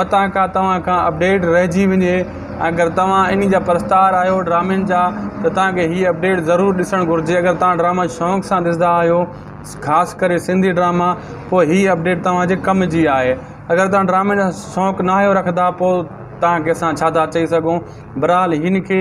متان ڪا توهان کان اپڊيٽ رهجي وڃي ۽ اگر توهان انهي جا پرستار آهيو ڊرامين جا ته توهان کي هي اپڊيٽ ضرور ڏسڻ گهرجي اگر توهان ڊراما شونق سان ڏسندا آهيو خاص ڪري سنڌي ڊراما پوء هي اپڊيٽ توهان جي ڪم جي آهي اگر توهان ڊرامين جا شونق ناهيو رکندا پوء توهان کي اسان ڇا ٿا چئي سگهون بھرحال ھن کي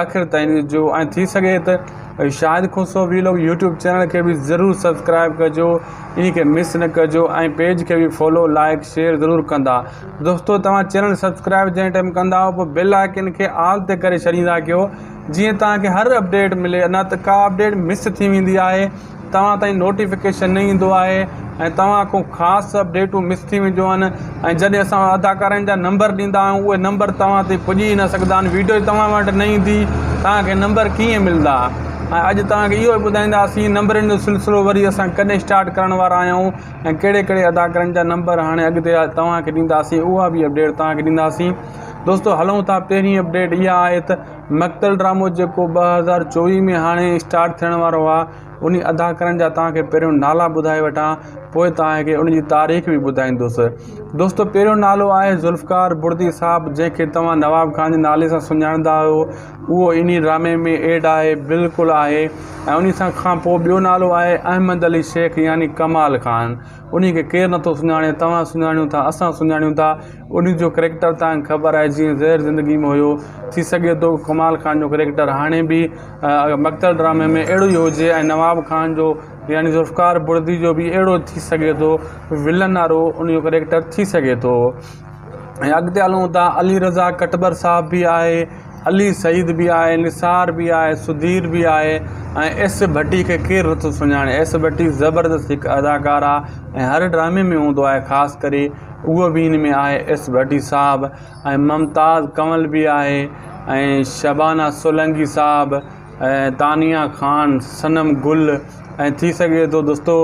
آخر تائين ڏسجو ۽ ٿي سگھي تھ Shahid Khoso vlog YouTube channel کي بھ ضرور سبسڪرائيب ڪجو انھي کي مس نھ ڪجو ۽ پيج کي بھ فالو لائيڪ شيئر ضرور ڪندا دوستو توھان چينل سبسڪرائيب جنھن ٽيم ڪندا پوء بيل آئيڪن کي آل تي ڪري ڇڏيندا ڪيو جيئن توھان کي ھر اپڊيٽ ملي نھ تھ ڪا اپڊيٽ مس ٿي ويندي آھي توهان تائين نوٽيفڪيشن نه ايندو آهي ۽ توهان کان خاص اپڊيٽون مس ٿي وينديون آهن ۽ جڏهن اسان اداڪارائن جا نمبر ڏيندا آهيون اهي نمبر توهان تائين پڄي ئي نه سگهندا آهن ويڊيو ئي توهان وٽ نه ايندي توهان کي نمبر ڪيئن ملندا ۽ اڄ توهان کي اهو ئي ٻڌائينداسين نمبرن جو سلسلو وري اسان ڪڏهن اسٽارٽ ڪرڻ وارا آهيون ۽ ڪهڙي ڪهڙي اداڪارن جا نمبر هاڻي اڳتي توهان کي ڏينداسين اها به اپڊيٽ توهان کي ڏينداسين دوستو هلون ٿا پهرين اپڊيٽ اها آهي ته مقتل ڊرامو جيڪو ٻه هزار چوويهه ۾ هاڻي اسٽارٽ ٿيڻ وارو آهي انهي اداڪارن جا توهان کي پهريون نالا ٻڌائي وٺان پوء توهان کي ان جي تاريخ به ٻڌائيندس دوستو پهريون نالو آهي ذوالفقار بڙدي صاحب جنهن کي توهان نواب خان جي نالي سان سڃاڻندا آهيو اهو انهي ڊرامي ۾ ايڊ آهي بلڪل آهي ۽ انهي کان پوء ٻيو نالو آهي احمد علي شيخ يعني ڪمال خان انهي کي ڪير نٿو سڃاڻي، توهان سڃاڻيو ٿا، اسان سڃاڻيون ٿا، انهي جو ڪريڪٽر توهان کي خبر آهي جيئن زهر زندگي ۾ هيو، ٿي سگهي ٿو ڪمال خان جو ڪريڪٽر هاڻي به مقتل ڊرامي ۾ اهڙو ئي هجي ۽ نواب خان جو يعني ذوالفقار بڙدي جو به اهڙو ٿي سگهي ٿو ولن وارو انهي جو ڪريڪٽر ٿي سگهي ٿو. ۽ اڳتي هلون ٿا علي رضا ڪٽٻر صاحب بي آهي علي سعيد بي آهي نثار بي آهي سڌير بي آهي ۽ ايس ڀٽي کي ڪير نٿو سڃاڻي ايس ڀٽي زبردست هڪ اداڪار آهي ۽ هر ڊرامي ۾ هوندو آهي خاص ڪري اهو بي هن ۾ آهي ايس ڀٽي صاحب ۽ ممتاز ڪنول بي آهي ۽ شبانا سولنگي صاحب ۽ تانيا خان صنم گل ۽ ٿي سگهي ٿو دوستو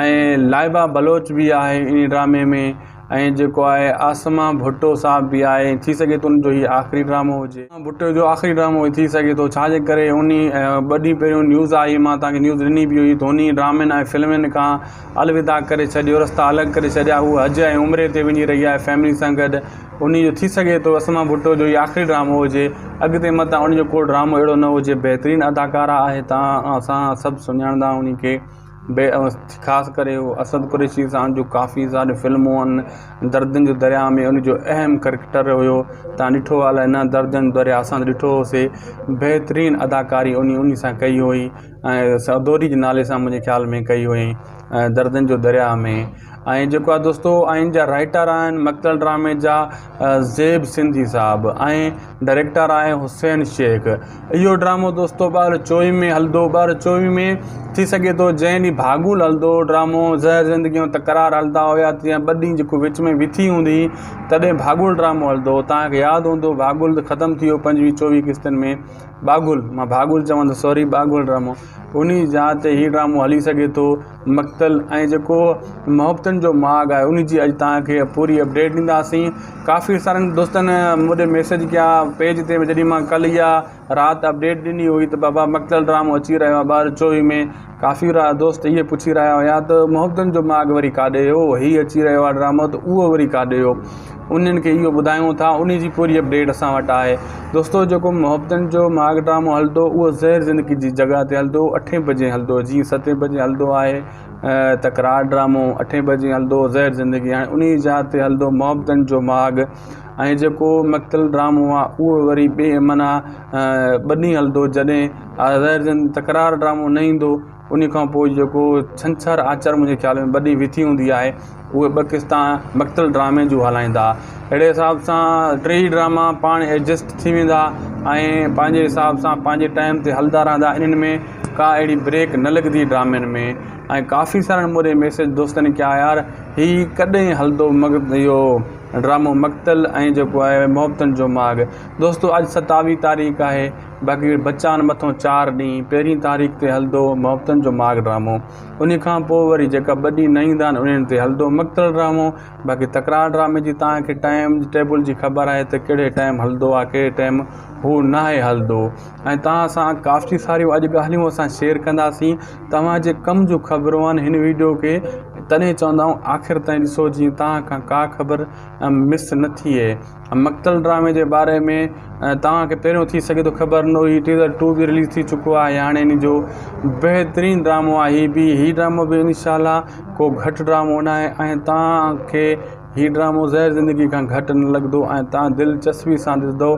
۽ لائبا بلوچ بي آهي ان ڊرامي ۾ ۽ جيڪو آهي عاصمه ڀٽو صاحب به آهي ۽ ٿي سگهي ٿو ان جو هي آخري ڊرامو هجي ڀٽو جو آخري ڊرامو ٿي سگهي ٿو ڇا جي ڪري ان ٻه ڏينهن پهريون نيوز آئي مان تان کي نيوز ڏني به هئي ڌوني ڊرامن ۽ فلمن کان الوداع ڪري ڇڏيو رستا الڳ ڪري ڇڏيا هو حج ۽ عمري تي وڃي رهي آهي فيملي سان گڏ ان جو ٿي سگهي ٿو عاصمه ڀٽو جو هي آخري ڊرامو هجي اڳتي متان ان جو ڪو ڊرامو اهڙو نه هجي بهترين اداڪارا آهي تان اسان سڀ سڃاڻندا ان کي بي اوس خاص ڪري هو اسد قريشي سان جو ڪافي ساري فلمون آهن دردن جو درياء ۾ ان جو اهم ڪريڪٽر هيو تان ڏٺو آ الاء نه دردن جو درياء اسان ته ڏٺو هو سي بهترين اداڪاري اني اني سان ڪئي هئي ۽ سعدوري جي نالي سان منهنجي خيال ۾ ڪئي هئي دردن جو درياء ۾ ۽ جيڪو آ دوستو آئين جا رائيٽر آهن مڪتل ڊرامي جا زيب سنڌي صاحب ۽ ڊائريڪٽر آهي حسين شيخ. اهو ڊرامو دوستو ٻار چوئي ۾ هلندو ٻار چوئي ۾ ٿي سگهي ٿو جنهن ڏينهن ڀاڳول هلندو هو ڊرامو زهر زندگي ۽ تڪرار هلندا هيا تيئن ٻه ڏينهن جيڪو وچ ۾ وٿي هوندي هئي تڏهن ڀاڳول ڊرامو هلندو هو توهان کي ياد هوندو ڀاڳول ختم ٿي ويو پنجويهه چوويهه قسطن ۾ ٻاگهول مان ڀاڳول چوان ته سوري ٻاگهول ڊرامو انهي جا تي هي ڊرامو هلي سگهي ٿو. مقتل ۽ جيڪو محبتن جو ماڳ آهي ان جي اڄ توهان کي پوري اپڊيٽ ڏينداسين ڪافي سارن دوستن مونڏي ميسج ڪيا پيج تي جڏهن مان ڪل يا رات اپڊيٽ ڏني هئي ته بابا مقتل ڊرامو اچي رهيو آهي ٻه هزار چوويهه ۾ ڪافي را دوست اهي پڇي رهيا هيا ته محبتن جو ماڳ وري ڪاڏي هو هي اچي رهيو آهي ڊرامو ته اهو وري ڪاڏي هو انهن کي اهو ٻڌايون ٿا انهي جي پوري اپڊيٽ اسان وٽ آهي دوستو جيڪو محبتن جو ماڳ ڊرامو هلندو اهو زهر زندگي جي جڳهه تي هلندو اٺي بجي هلندو جيئن ستي بجي هلندو آهي تڪرار ڊرامو اٺي بجي هلندو زهر زندگي هاڻي انهي جاء تي هلندو محبتن جو ماڳ ۽ جيڪو مقتل ڊرامو آهي اهو وري ٻي معنيٰ ٻنهي هلندو جڏهن زهر زندگي تڪرار ڊرامو نه ايندو انهيء کان پوء جيڪو ڇنڇر آچر منهنجي خيال ۾ ٻه ڏينهن ويٺي هوندي آهي اهي ٻه قسطا مقتل ڊرامي جون هلائيندا اهڙي حساب سان ٽي ئي ڊراما پاڻ ايڊجسٽ ٿي ويندا ۽ پنهنجي حساب سان پنهنجي ٽائيم تي هلدا رهندا انهن ۾ ڪا اهڙي بريڪ نه لڳندي ڊرامن ۾ ۽ ڪافي سارن موري ميسيج دوستن ڪيا يار هي ڪڏهن هلندو مقت اهو ڊرامو مقتل ۽ جيڪو آهي محبتن جو ماڳ دوستو اڄ ستاويهه تاريخ آهي باقي بچان مٿون چار ڏينهن پهرين تاريخ تي هلندو محبتن جو ماڳ ڊرامو انهي کان پوء وري جيڪا ٻه ڏينهن نه ايندا آهن انهن تي هلندو مقتل ڊرامو باقي تڪرار ڊرامي جي توهان کي ٽائيم ٽيبل جي خبر آهي ته ڪهڙي ٽائيم هلندو آهي ڪهڙي ٽائيم هو ناهي هلندو ۽ توهان سان ڪافي ساريون اڄ ڳالهيون اسان شيئر ڪنداسين توهان جي ڪم جون خبرون آهن هن ويڊيو کي تڏهن چوندا آهيون آخر تائين ڏسو جيئن توهان کان ڪا خبر مس نه ٿئي مقتل ڊرامي جي باري ۾ توهان کي پهريون ٿي سگهي ٿو خبر نه هئي ٽيزر ٽو به رليز ٿي چڪو آهي هاڻي ان جو بهترين ڊرامو آهي هي بي هي ڊرامو به ان شاء الله ڪو گهٽ ڊرامو نه آهي ۽ توهان کي هي ڊرامو زهر زندگي کان گهٽ نه لڳندو ۽ توهان دلچسپي سان ڏسندو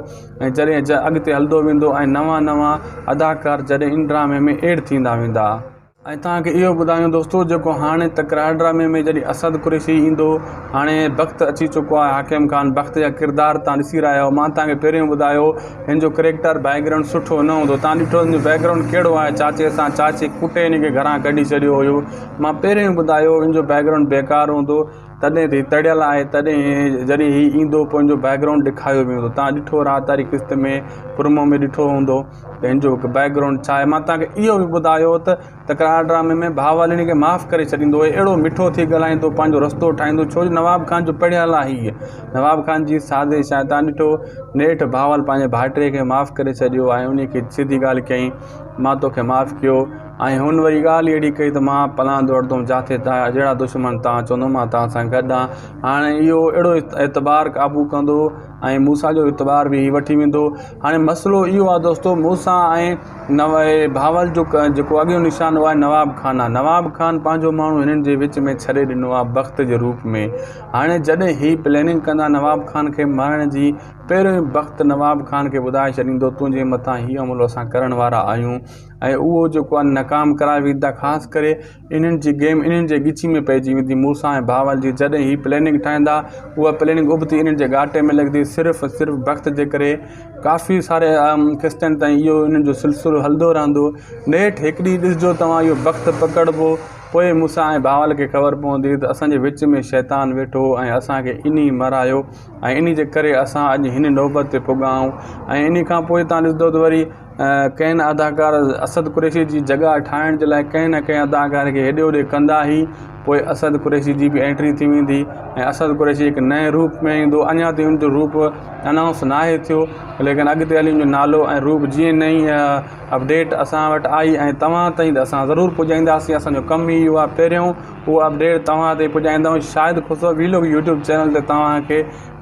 ۽ جڏهن جا اڳتي هلندو ويندو ۽ نوان نوان اداڪار جڏهن ان ڊرامي ۾ ايڊ ٿيندا ويندا ۽ توهان کي اهو ٻڌايون دوستو جيڪو هاڻي تڪرار ڊرامي ۾ جڏهن اسد قريشي ايندو هاڻي بخت اچي چڪو آهي حاڪم خان بخت جا ڪردار توهان ڏسي رهيا آهيو مان توهان کي پهريون ٻڌايو هن جو ڪريڪٽر بيڪ گرائونڊ سٺو نه هوندو توهان ڏٺو هن جو بيڪ گرائونڊ ڪهڙو آهي چاچي سان چاچي ڪٽي هن کي گهران ڪڍي ڇڏيو هيو مان پهريون ئي ٻڌايو هن جو بيڪ گرائونڊ بيڪار هوندو تڏهن ته هي تڙيل آهي تڏهن جڏهن هي ايندو پوء هن جو بيڪ گرائونڊ ڏيکاريو ويندو توهان ڏٺو راحت واري قسط ۾ پرومو ۾ ڏٺو هوندو پنهنجو هڪ بيڪ گرائونڊ ڇا آهي مان توهان کي اهو به ٻڌايو هو ته تڪرار ڊرامي ۾ ڀاء واليڻي کي معاف ڪري ڇڏيندو هي اهڙو مٺو ٿي ڳالهائيندو پنهنجو رستو ٺاهيندو ڇو جو نواب خان جو پڙهيل آهي هيء نواب خان جي سازش آهي تان ڏٺو نيٺ ڀاول پنهنجي ڀائٽي کي معاف ڪري ڇڏيو ۽ انهي کي سڌي ڳالهه چيائين مان توکي معاف ڪيو ۽ هن وري ڳالهه اهڙي ڪئي ته مان پلان ڊوڙندوم جاٿي تنهنجا جهڙا دشمن تان چوندو مان توهان سان گڏ آهيان هاڻي اهو اهڙو اعتبار قابو ڪندو ۽ موسيٰ جو اعتبار به هي وٺي ويندو. هاڻي مسئلو اهو آهي دوستو موسيٰ ۽ بهاول جو جيڪو اڳيون نشان اهو آهي نواب خان آهي نواب خان پنهنجو ماڻهو هنن جي وچ ۾ ڇڏي ڏنو آهي بخت جي روپ ۾ هاڻي جڏهن هي پليننگ ڪندا نواب خان کي مارڻ جي پهريون ئي بخت نواب خان کي ٻڌائي ڇڏيندو تنهنجي مٿان هي حملو اسان ڪرڻ وارا آهيون ۽ اهو جيڪو آهي ناڪام ڪرائي ويندا خاص ڪري انهن جي گيم انهن جي ڳچي ۾ پئجي ويندي، مون سان ۽ ڀانول جي جڏهن هي پليننگ ٺاهيندا، اها پليننگ ابتي انهن جي ڳاٽي ۾ لڳندي، صرف ۽ صرف بخت جي ڪري. ڪافي ساري قسطن تائين اهو انهن جو سلسلو هلندو رهندو. نيٺ هڪ ڏينهن ڏسجو توهان اهو بخت پڪڙبو، پوء مون سان ۽ ڀانول کي خبر پوندي ته اسان جي وچ ۾ شيطان ويٺو هو ۽ اسان کي انهي مرايو. ۽ انهي جي ڪري اسان اڄ هن نوبت تي پڳا آهيون ۽ انهي کان پوء تهان ڏسندو ته وري ڪئن اداڪار اسد قريشي جي جڳهه ٺاهڻ جي لاء ڪنهن نه ڪنهن اداڪار کي هيڏي هوڏي ڪندا هي پوء اسد قريشي جي به اينٽري ٿي ويندي ۽ اسد قريشي هڪ نئين روپ ۾ ايندو اڃا تائين ان جو روپ انائونس ناهي ٿيو ليڪن اڳتي هلي ان جو نالو ۽ روپ جيئن نئين اپڊيٽ اسان وٽ آئي ۽ توهان تائين ته اسان ضرور پڄائينداسين اسان جو ڪم ئي اهو آهي پهريون اهو اپڊيٽ توهان تائين پڄائيندائون Shahid Khusro vlog YouTube channel تي توهان کي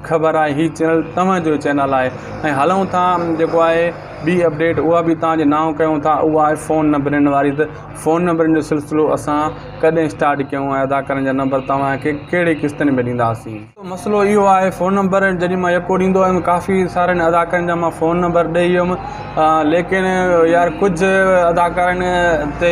خبر آهي هي چينل توهان جو چينل آهي ۽ هلون ٿا جيڪو آهي ٻي اپڊيٽ اها به توهان جي نانء ڪيون ٿا اها آهي فون نمبرن واري ته فون نمبرن جو سلسلو اسان ڪڏهن اسٽارٽ ڪيون ۽ ادا ڪرڻ جا نمبر توهان کي ڪهڙي قسطن ۾ ڏينداسين مسئلو اهو آهي فون نمبر جڏهن مان يڪو ڏيندو هيم ڪافي سارن اداڪارن جا مان فون نمبر ڏئي هيم ليڪن يار ڪجهه اداڪارن تي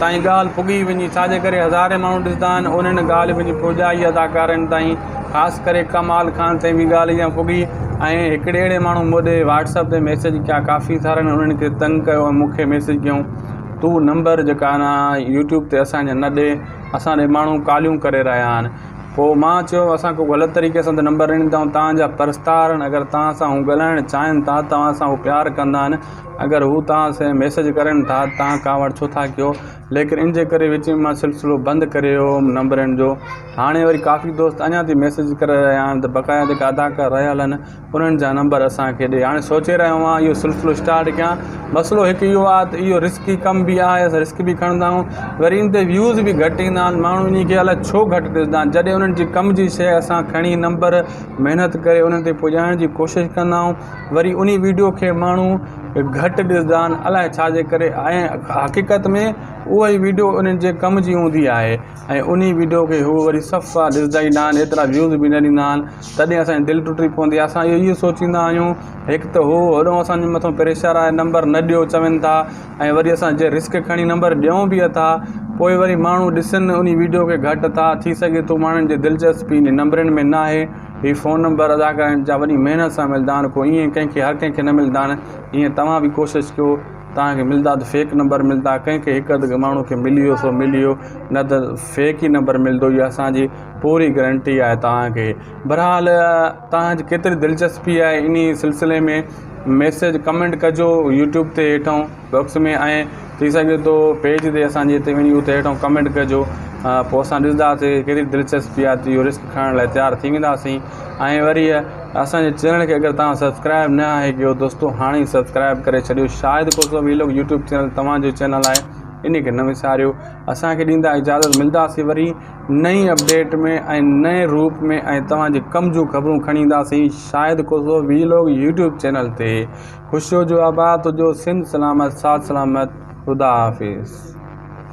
تائين ڳالهه پڳي وڃي ڇاجي ڪري هزارين ماڻهو ڏسندا آهن انهن ڳالهه وڃي پڄائي اداڪارن تائين خاص ڪري ڪمال خان تائين به ڳالهه اها پڳي ۽ هڪڙي اهڙي ماڻهو مون ڏي واٽسپ تي ميسج ڪيا ڪافي سارن انهن کي تنگ ڪيو ۽ مونکي ميسج ڪيون تون نمبر جيڪا آهن يوٽيوب تي اسانجا نه ڏي اسان ڏي ماڻهو ڪاليون ڪري رهيا آهن پوء مان چيو، اسان ڪو غلط طريقي سان ته نه نمبر ڏني اٿائون، توهان جا پرستار آهن، اگر توهان سان هو ڳالهائڻ چاهين ٿا، توهان سان هو پيار ڪندا آهن، اگر هو توهان سين ميسيج ڪرين ٿا ته توهان ڪاوڙ ڇو ٿا ڪيو، ليڪن ان جي ڪري وچ ۾ مان سلسلو بند ڪري ويو هوم نمبر ڏيڻ جو، هاڻي وري ڪافي دوست اڃا تائين ميسيج ڪري رهيا آهن ته بقايا جيڪا اداڪار رهيل آهن انهن جا نمبر اسان کي ڏي. هاڻي سوچي رهيو آهيان اهو سلسلو اسٽارٽ ڪيان. مسئلو هڪ اهو آهي ته اهو رسڪي ڪم به آهي، اسان رسڪ به کڻندا آهيون. وري ان تي ويوز به گهٽ ايندا آهن. ماڻهو انهي کي الائي ڇو گهٽ ڏسندا آهن. جڏهن انهن جي ڪم جي شيء اسان کڻي نمبر محنت ڪري انهن تائين پڄائڻ جي ڪوشش ڪندا آهيون. وري انهي ويڊيو کي ماڻهو گهٽ ڏسندا آهن. الائي ڇا جي ڪري. ۽ حقيقت ۾ اهي ويڊيو انهن جي ڪم جي هوندي آهي. ۽ انهي ويڊيو کي هو وري صف سان ڏسندا ئي نه آهن ايترا ويوز به نه ڏيندا آهن تڏهن اسان جي دل ٽٽي پوندي آهي اسان اهو ئي سوچيندا آهيون هڪ ته هو هيڏو اسان جي مٿان پريشر آهي نمبر نه ڏيو چون ٿا ۽ وري اسان جي رسڪ کڻي نمبر ڏيون به اٿا پوء وري ماڻهو ڏسن انهي ويڊيو کي گهٽ ٿا ٿي سگهي ٿو ماڻهن جي دلچسپي انهي نمبرن ۾ نه آهي هي فون نمبر ادا ڪرڻ جا وڏي محنت سان ملدا آهن ڪو ائين ڪنهن کي هر ڪنهن کي نه ملدا آهن ايئن توهان به ڪوشش ڪيو توهان کي ملدا ته فيڪ نمبر ملدا ڪنهن کي هڪ اڌ ماڻهو کي ملي ويو سو ملي ويو نه ته فيڪ ئي نمبر ملدو اها اسانجي پوري گرنٽي آهي توهان کي برحال توهان جي ڪيتري دلچسپي آهي انهي سلسلي ۾ ميسج ڪمينٽ ڪجو يوٽيوب تي هيٺون بوڪس ۾ ۽ ٿي سگهي ٿو پيج تي اسانجي تي وڃي اتي هيٺون ڪمينٽ ڪجو پوء اسان ڏسنداسي ڪيتري دلچسپي آهي ته اهو رسڪ کڻڻ لاء تيار ٿي وينداسين ۽ وري اسان جي چينل کي اگر توهان سبسڪرائب نه آهي ڪيو دوستو هاڻي ئي سبسڪرائب ڪري ڇڏيو Shahid Khoso vlog YouTube channel توهان جو چينل آهي ان کي نه وساريو اسان کي ڏيندا اجازت ملداسي وري نئين اپڊيٽ ۾ ۽ نئين روپ ۾ ۽ توهان جي ڪم جون خبرون کڻي اينداسي Shahid Khoso vlog YouTube channel تي خوش هجو آباد هجو سنڌ سلامت ساٿ سلامت خدا حافظ